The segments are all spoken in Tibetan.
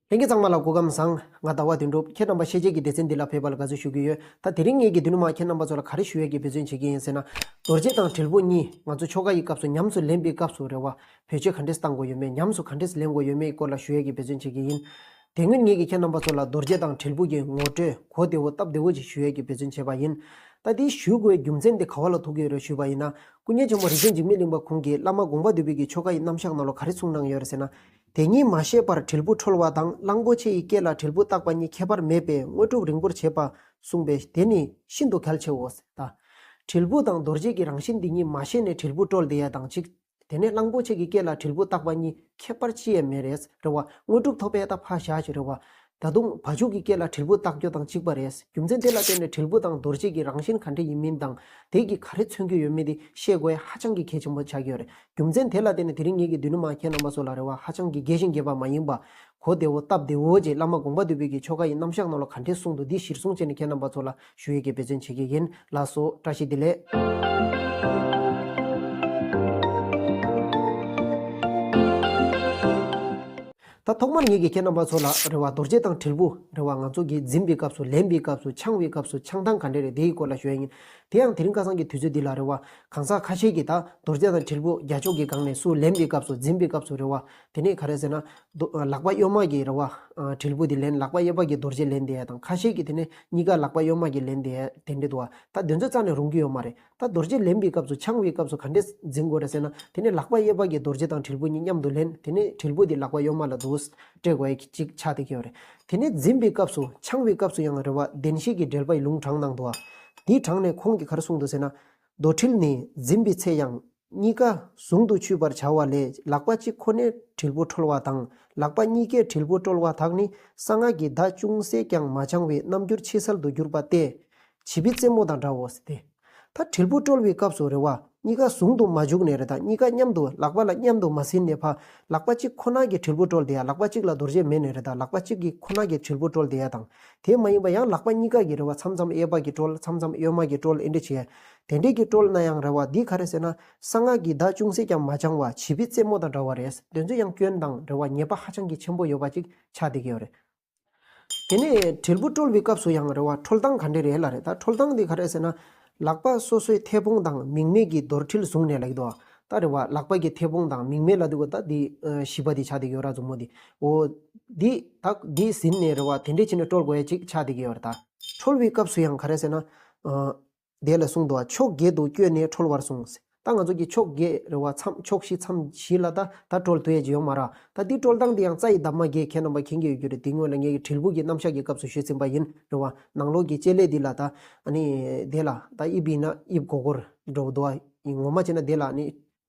ལྷན་རྒྱས་ཚང་མ་ལ་སྐུ་ཁམས་བཟང། ང་ཟླ་བ་དོན་འགྲུབ་ཁྱེད་རྣམ་པ་ཤེས་བྱའི་གི་སྡེ་ཚན་འདི་ལ་ཕེབས་པ་ལ་དགའ་བསུ་ཞུ་གི་ཡོད། ད་དེ་རིང་ངེད་ཀྱི་འདུས་ནི་མ་ཁྱེད་རྣམ་པ་ཚོ་ལ་ག་རེ་ཞུ་ཡས་ཀྱི་འབོད་བརྩོན་བྱེད་ཀྱི་ཡིན་ཟེར་ན། རྡོ་རྗེ་དང་དྲིལ་བུ་གཉིས་ང་ཚོ་ཆོ་ག་ཡི་སྐབས་སུ་ཉམས་སུ་ལེན་པའི་སྐབས་སུ་རེ་བ། བོད་ཆས་ག་འདྲས་བཏང་དགོས་ཡོད་མེད་ཉམས་སུ་ག་འདྲས་ལེན་དགོས་ཡོད་མེད་སྐོར་ལ་ཞུ་ཡས་ཀྱི་འབོད་བརྩོན་བྱེད་ཀྱི་ཡིན། དེ་སྔོན་ངེད་ཀྱི་ཁྱེད་རྣམ་པ་ཚོ་ལ་རྡོ་རྗེ་དང་དྲིལ་བུ་གྱི་ངོ་སྤྲོད་གོ་བདེ་བོ་སྟབས་བདེ་བོ་ཅིག་ཞུ་ཡས་ཀྱི་འབོད་བརྩོན་བྱས་པ་ཡིན། ད་དེ་ཞུ་དགོས་རྒྱུ་མཚན་དེ་ག་བ་ལ་ཐུག་གི་རེད་ཞུས་པ་ཡིན་ན། སྐུ་མཁྱེན་ཆེན་པོ་རིག་འཛིན་འཇིགས་མེད་གླིང་པ་ཁོང་གིས་བླ་མ་དགོངས་པ་འདུས་པའི་གི་ཆོ་ག་ཡི་རྣམ་གཞག་ནང་ལོ་ག་རེ་གསུངས་གནང་ཡོད་རེད་ཟེར་ན། དེ་གཉིས་མ་ཤེས་པར་དྲིལ་བུ་འཁྲོལ་བ་དང་གླང་པོ་ཆེ་ཡི་སྐེ་ལ་དྲིལ་བུ་བཏགས་པ་གཉིས་ཁྱད་པར་མེད་པས་དངོས་གྲུབ་རིང་པོར་བྱེད་པ། གསུངས་པས་དེ་ནི་ཤིན་ཏུ་གལ་ཆེའོ། ད་དྲིལ་བུ་དང་རྡོ་རྗེ་གི་རང་བཞིན་འདི་གཉིས་མ་ཤེས་ནས་དྲིལ་བུ་དཀྲོལ་དེ་ཡས་དང་གཅིག། དེ་ནས་གླང་པོ་ཆེ་གི་སྐེ་ལ་དྲིལ་བུ་བཏགས་པ་གཉིས་ཁྱད་པར་ཅི་ཡས་མེད་རེད། རེ་བ། དངོས་གྲུབ་ཐོབ་པས་ད་བྷ་ཤ་ཅི་རེ་བ། ད་དུང་བ་ཕྱུགས་ཀྱི་སྐད་ལ་དྲིལ་བུ་བཏགས་རྒྱུ་དང་གཅིག་པ་རེད། རྒྱུ་མཚན་དེ་ལ་བརྟེན་ནས་དྲིལ་བུ་དང་རྡོ་རྗེ་གི་རང་བཞིན་ག་འདྲ་ཡིན་མིན་དང། དེ་གིས་ག་རེ་མཚོན་གྱི་ཡོད་མེད་དེ་ཤེས་དགོས་ཧ་ཅང་གི་གལ་ཆེན་པོ་ཆགས་ཀྱི་ཡོད་རེད། རྒྱུ་མཚན་དེ་ལ་བརྟེན་ནས་དེ་རིང་ངེད་ཀྱི་མདུན་ནུ་མ་ཁྱེད་རྣམ་པ་ཚོ་ལ་རེ་བ་ཧ་ཅང་གི་རྒྱས་ཤིང་རྒྱས་པ་མ་ཡིན་པ། གོ་བདེ་བོ་སྟབས་བདེ་བོ་རྗེ་བླ་མ་དགོངས་པ་འདུས་བོད་ཀྱི་ཆོ་ག་ཡི་རྣམ་གཞག་རྣམས་ལ་ག་འདྲའི་གསུང་དུ་འདི་གཞིར་བཟུང་བྱས་ནས་ཁྱེད་རྣམ་པ་ཚོ་ལ་ཞུ་ཡི་གེ་འབད་བརྩོན་བྱེད་ཀྱི་ཡིན་ལགས་སོ། བཀྲ་ཤིས་བདེ་ལེགས། ད་ཐོག་མར་ངེད་ཀྱིས་ཁྱེད་རྣམ་པ་ཚོ་ལ་རེ་བ་རྡོ་རྗེ་དང་དྲིལ་བུ་རེ་བ་ང་ཚོ་གིས་འཛིན་པའི་སྐབས་སུ་ལེན་པའི་སྐབས་སུ་འཆང་བའི་སྐབས་སུ་འཆང་སྟངས་ག་འདྲས་རེད་དེའི་སྐོར་ལ་ཞུ་ཡ་ཡིན། དེ་ཡང་དེ་རིང་ཁ་སང་གི་དུས་ཚོད་འདི་ལ་རེ་བ་གང་ཟག་ཁ་ཤས་ཀྱིས་ད་རྡོ་རྗེ་དང་དྲིལ་བུ་རྒྱ་ཕྱོགས་ཀྱི་སྒང་ནས་སུ་ལེན་པའི་སྐབས་སུ་འཛིན་པའི་སྐབས་སུ་རེ་བ་དེ་ནི་ག་རེ་ཟེར་ན། ལག་པ་གཡོན་དམག་གིས་རེ་བ་དྲིལ་བུ་དེ་ལེན་ལག་པ་གཡས་པ་གིས་རྡོ་རྗེ་ལེན་དེ་ཡ་དང་ཁ་ཤས་ཀྱིས་དེ་ནི་གཉིས་ཀ་ལག་པ་གཡོན་དམག་གིས་ལེན་དེ་ཡ་དེ་འདྲས་འདུག་བ་ད་དེ་ཚོ་རྩ་ནས་རུང་གི་ཡོད་མ་རེད། ད་རྡོ་རྗེ་ལེན་པའི་སྐབས་སུ་འཆང་བའི་སྐབས་སུ་ག་འདྲས་འཛིན་དགོས་ར་ཟེར་ན། དེ་ནས་ལག་པ་གཡས་པ་གྱིས་རྡོ་རྗེ་དང་དྲིལ་བུ་གཉིས་མཉམ་དུ་ལེན། དེ་ནས་དྲིལ་བུ་དེ་ལག་པ་གཡོན་མ་ལ་བསྡུ། སྤྲད་དགོས་ཀྱི་ཅིག་ཆ་དེ་ཀྱང་རེད། དེ་ནས་འཛིན་པའི་སྐབས་སུ་འཆང་བའི་སྐབས་སུ་ཡང་རེ་བ་བདེན་བཞི་གྱི་འགྲེལ་པ་ཡི་ལུང་དྲངས་གནང་འདུག། དེའི་དྲངས་ནས་ཁོང་གིས་ག་རེ་གསུངས་འདུག་ཟེར་ན། རྡོ་དྲིལ་ནི་འཛིན་པའི་ཚེ་ཡང། གཉིས་ཀ་ཟུང་དུ་ཆུད་པར་བྱ་བ་ལས་ལག་པ་གཅིག་ཁོ་ནས་དྲིལ་བུ་འཁྲོལ་བ་དང་ལག་པ་གཉིས་ཀས་དྲིལ་བུ་དཀྲོལ་བ་དག་ནི་གསང་སྔགས་ཀྱི་བརྡ་ཅུང་ཟད་ཀྱང་མ་འཆང་བའི་རྣམ་འགྱུར་ཕྱི་གསལ་དུ་གྱུར་པ་སྟེ། བྱིས་པའི་རྩེད་མོ་དང་འདྲའོ། དེ་ལྟར་དྲིལ་བུ་དཀྲོལ་བའི་སྐབས་སུ་རེ་བ་གཉིས་ཀ་ཟུང་དུ་མ་འཇུག་ནས་རེ་དང་གཉིས་ཀ་མཉམ་དུ་ལག་པ་ལ་མཉམ་དུ་མ་ཟིན་ནས་ཕ་ལག་པ་གཅིག་ཁོ་ན་གྱིས་དྲིལ་བུ་དཀྲོལ་དེ་ཡང་ལག་པ་གཅིག་ལ་རྡོ་རྗེ་མེད་ནས་རེ་དང་ལག་པ་གཅིག་གིས་ཁོ་ན་གྱིས་དྲིལ་བུ་དཀྲོལ་དེ་ཡང་དང་དེ་མ་ཡིན་པར་ཡང་ལག་པ་གཉིས་ཀ་གིས་རེ་བ་མཚམས་མཚམས་གཡས་པ་གྱིས་དཀྲོལ་མཚམས་མཚམས་གཡོན་མ་གྱིས་དཀྲོལ་ཨེ་འདྲ་བྱས། དེ་འདྲས་ཀྱི་སྤྲོ་ལ་ན་ཡང་རེ་བ་འདི་ག་རེ་ཟེར་ན། གསང་སྔགས་ཀྱི་བརྡ་ཅུང་ཟད་ཀྱང་མ་འཆང་བར་བྱིས་པའི་རྩེད་མོ་དང་འདྲ་བ་རེད་འདོད་ཚུལ་ཡང་སྐྱོན་དང་རེ་བ་ཉེས་པ་ཧ་ཅང་གི་ཆེན་པོ་ཡོད་པ་ཅིག་ཆགས་བསྡད་ཀྱི་ཡོད་རེད། དེ་ནས་དྲིལ་བུ་དཀྲོལ་བའི་སྐབས་སུ་ཡང་རེ་བ་འཁྲོལ་སྟངས་ག་འདྲས་རེད་ལ་རེ་ད་འཁྲོལ་སྟངས་འདི་ག་རེ་ཟེར་ན། ལག་པ་སོ་སོའི་མཐེ་བོང་དང་མིང་མེད་ཀྱི་རྡོར་དྲིལ་བཟུང་ནས་ལ་ཡི་དོ། ད་རེ་བ་ལག་པ་ཀྱི་མཐེ་བོང་དང་མིང་མེད་ལ་འདུག་གོ་ད་འདི་བྱིས་པ་འདི་ཆགས་བསྡད་ཀྱི་ཡོད་ར་མཛུབ་མོ་འདི་འོ། འདི་ད་འདི་ཟིན་ནས་རེ་བ་དེ་འདྲས་བྱས་ནས་དཀྲོལ་དགོས་ཡ་ཅིག་ཆགས་བསྡད་ཀྱི་ཡོད་རེད་ད། འཁྲོལ་བའི་སྐབས་སུ་ཡང་ག་རེ་ཟེར་ན། དེ་ལ་གསུང་དུའང་ཕྱོགས་བརྒྱད་དུ་བསྐྱོད་ནས་ཁྲོལ་བར་གསུངས། ད་ང་ཚོ་གི་ཕྱོགས་བརྒྱད་རེ་བ་མཚམས་ཕྱོགས་བཞི་མཚམས་བཞི་ལ་ད་ད་ཁྲོལ་དུ་ཡེ་རྗེ་ཡོང་མ་ར། ད་འདི་ཁྲོལ་སྟངས་དེ་ཡང་རྩ་ཡི་འདབ་མ་བརྒྱད་ཁྱེད་རྣམ་པ་མཁྱེན་གྱི་ཡོད་རྒྱུ་རེད་དེ་སྔོན་ལ་ངེད་ཀྱི་དྲིལ་བུ་ཀྱི་རྣམ་གཞག་གི་སྐབས་སུ་ཞུས་ཟིན་པ་ཡིན་རེད་བ། ནང་ལོགས་ཀྱི་བཅད་ལས་འདི་ལ་ད། ཨ་ནི། དེ་ལ་ད་དབྱིབས་ཡིན་ན་དབྱིབས་གོ་གོར། འགྲོ་བ་དུ་བ། ངོ་མ་བྱས་ན་དེ་ལ་ནི།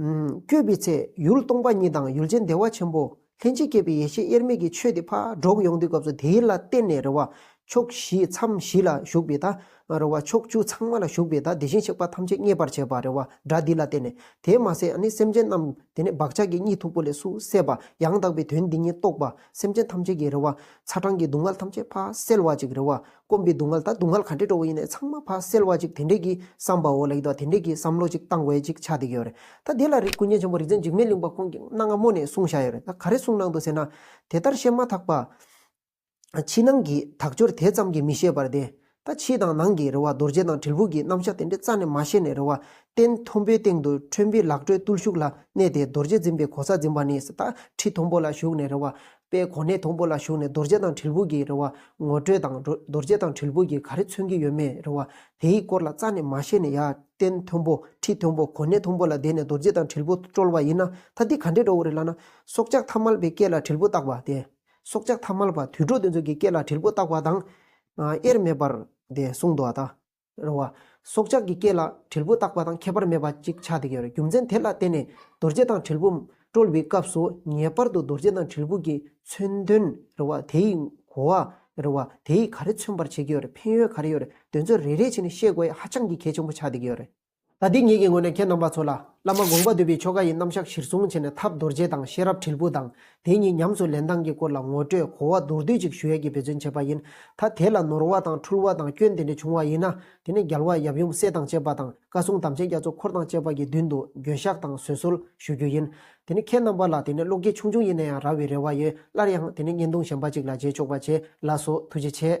བསྐྱོད་པའི་ཚེ་ཡུལ་སྟོང་པ་ཉིད་དང་ཡུལ་ཅན་བདེ་བ་ཆེན་པོ། ལྷན་ཅིག་སྐྱེས་པའི་ཡེ་ཤེས་དབྱེར་མེད་ཀྱི་ཆོས་དེ་ཕ་རོལ་ཡོང་དུས་སྐབས་སུ་དེ་ལ་བརྟེན་ནས་རེ་བ་ཕྱོགས་བཞི་མཚམས་བཞི་ལ་ཞུགས་པའི་ད་རེ་བ་ཕྱོགས་བཅུ་ཚང་མ་ལ་ཞུགས་པའི་ད་དེ་བཞིན་གཤེགས་པ་ཐམས་ཅད་མཉེས་པར་བྱེད་པ་རེ་བ་སྒྲ་འདི་ལ་བརྟེན་ནས་དེ་མ་ཟད་ནི་སེམས་ཅན་རྣམས་དེ་ནས་བག་ཆགས་ཀྱི་གཉིད་འཐུག་པོ་ལས་སུ་སད་པ་ཡང་དག་པའི་དོན་འདི་ཉིད་རྟོགས་པ་སེམས་ཅན་ཐམས་ཅད་ཀྱི་རེ་བ་ཚ་གྲང་གི་སྡུག་བསྔལ་ཐམས་ཅད་ཕ་སེལ་བ་ཅིག་རེ་བ་དཀོན་པའི་སྡུག་བསྔལ་དང་སྡུག་བསྔལ་ག་འདྲས་སྤྲོ་བོ་ཡིན་ནས་ཚང་མ་ཕར་སེལ་བ་ཅིག་དེ་འདྲས་ཀྱི་བསམ་པའོ་ལེགས་འདུག་དེ་འདྲས་ཀྱི་བསམ་བློ་ཅིག་བཏང་བས་ཅིག་ཆ་འདི་ཡོད་རེད་ད་དེ་ལ་རིགས་ཀུན་མཁྱེན་ཆེན་པོ་རིག་འཛིན་འཇིགས་མེད་གླིང་པ་ཁོང་གིས་གནའ་སྔ་མོ་ནས་གསུངས་བཞག་ཡོད་རེད་ད་ག་རེ་གསུངས་གནང་འདུག་ཟེར་ན། དེ་ལྟར་བཤད་མ་ཐག་པ། ཕྱི་ནང་གི་དག་སྦྱོར་དེ་ཙམ་གྱིས་མི་ཤེས་པར་བདེན། ད་ཕྱི་དང་ནང་གི་རེ་བ་རྡོ་རྗེ་དང་དྲིལ་བུ་གྱི་རྣམ་གཞག་དེ་འདྲས་རྩ་ནས་མ་ཤེས་ནས་རེ་བ་སྟན་མཐོན་པོའི་སྟེང་དུ་ཁྲོན་པའི་ལག་བྲོའི་བརྟུལ་ཞུགས་ལ་གནས་ཏེ་རྡོ་རྗེ་འཛིན་པའི་གོ་ས་འཛིན་པ་ནས་ད་ཁྲི་མཐོན་པོ་ལ་བཞུགས་ནས་རེ་བ་པའི་གོ་གནས་དང་པོ་ལ་ཞུགས་ནས་རྡོ་རྗེ་དང་དྲིལ་བུ་གྱི་རེ་བ་ངོ་སྤྲོད་དང་རྡོ་རྗེ་དང་དྲིལ་བུ་གྱིས་ག་རེ་མཚོན་གྱི་ཡོད་མེད་རེ་བ་དེའི་སྐོར་ལ་རྩ་ནས་མ་ཤེས་ནས་ཡར་བསྟན་མཐོན་པོ་ཁྲིད་མཐོན་པོ་གོ་གནས་མཐོན་པོ་ལ་བསྡད་ནས་རྡོ་རྗེ་དང་དྲིལ་བུ་བཀྲོལ་བ་ཡིན་ན་ད་འདི་ག་འདྲའི་འགྲོ་བོ་རེད་ལབ་ན། སྲོག་ཆགས་ཐ་མལ་པའི་སྐད་ལ་དྲིལ་བུ་བཏགས་པ་དེ། སྲོག་ཆགས་ཐ་མལ་པ་དུད་འགྲོ་དེ་ཚོ་གི་སྐད་ལ་དྲིལ་བུ་བཏགས་པ་དང། དབྱེར་མེད་པར་དེ་གསུངས་འདུག་ཨ་ད། རུང་བ། སྲོག་ཆགས་ཀྱི་སྐེ་ལ་དྲིལ་བུ་བཏགས་པ་དང་ཁྱད་པར་མེད་པ་ཅིག་ཆགས་ཏེ་ཡོད། རྒྱུ་མཚན་དེ་ལ་བརྟེན་ནས་རྡོ་རྗེ་དང་དྲིལ་བུ་དཀྲོལ་བའི་སྐབས་སུ་ངེས་པར་དུ་རྡོ་རྗེ་དང་དྲིལ་བུ་གྱི་མཚོན་དོན་རུང་བ་དེ་ཡི་གོ་བ་རུང་བ་དེ་ཡིས་ག་རེ་མཚོན་པར་བྱེད་ཀྱི་ཡོད་ཕན་ཡོད་ག་རེ་ཡོད་དོན་ཚོད་རེ་རེ་བྱས་ནས་བཤད་དགོས་ཧ་ཅང་གི་གལ་ཆེན་པོ་ཆགས་ཏེ་ཡོད། ད་ལྟའི་ངེད་ཀྱི་ངོས་ནས་ཁྱེད་རྣམ་པ་ཚོ་ལ། བླ་མ་དགོངས་པ་འདུས་པའི་ཆོ་ག་ཡི་རྣམ་གཞག་གཞིར་བཟུང་བྱས་ནས་ཐབས་རྡོ་རྗེ་དང་ཤེས་རབ་དྲིལ་བུ་དང་དེ་གཉིས་ཉམས་སུ་ལེན་སྟངས་ཀྱི་སྐོར་ལ་ངོ་སྤྲོད་གོ་བ་མདོར་བསྡུས་ཅིག་ཞུ་ཡ་གྱི་འབད་བརྩོན་བྱས་པ་ཡིན། ད་དེ་ལ་ནོར་བ་དང་འཁྲུལ་བ་དང་སྐྱོན་དེ་འདྲ་བྱུང་བ་ཡིན་ན། དེ་ནི་རྒྱལ་བ་ཡབ་ཡུམ་སྲས་དང་བཅས་པ་དང་བཀའ་སྲུང་དམ་ཅན་རྒྱ་མཚོ་འཁོར་དང་བཅས་པ་ཀྱི་མདུན་དུ་འགྱོད་བཤགས་དང་བཟོད་གསོལ་ཞུ་རྒྱུ་ཡིན། དེ་ནི་ཁྱེད་རྣམ་པ་ལ་དེ་ནི་བློ་སྐྱེད་ཆུང་ཆུང་ཡིན་ན་ཡང་རག་བའི་རེ་བ་ཡོད་སླར་ཡང་དེ་ནི་བརྙན་ཐུང་གཞན་པ་ཅིག་ལ་མཇལ་ཆོག་པ་བྱས་ལགས་སོ་ཐུགས་རྗེ་ཆེ།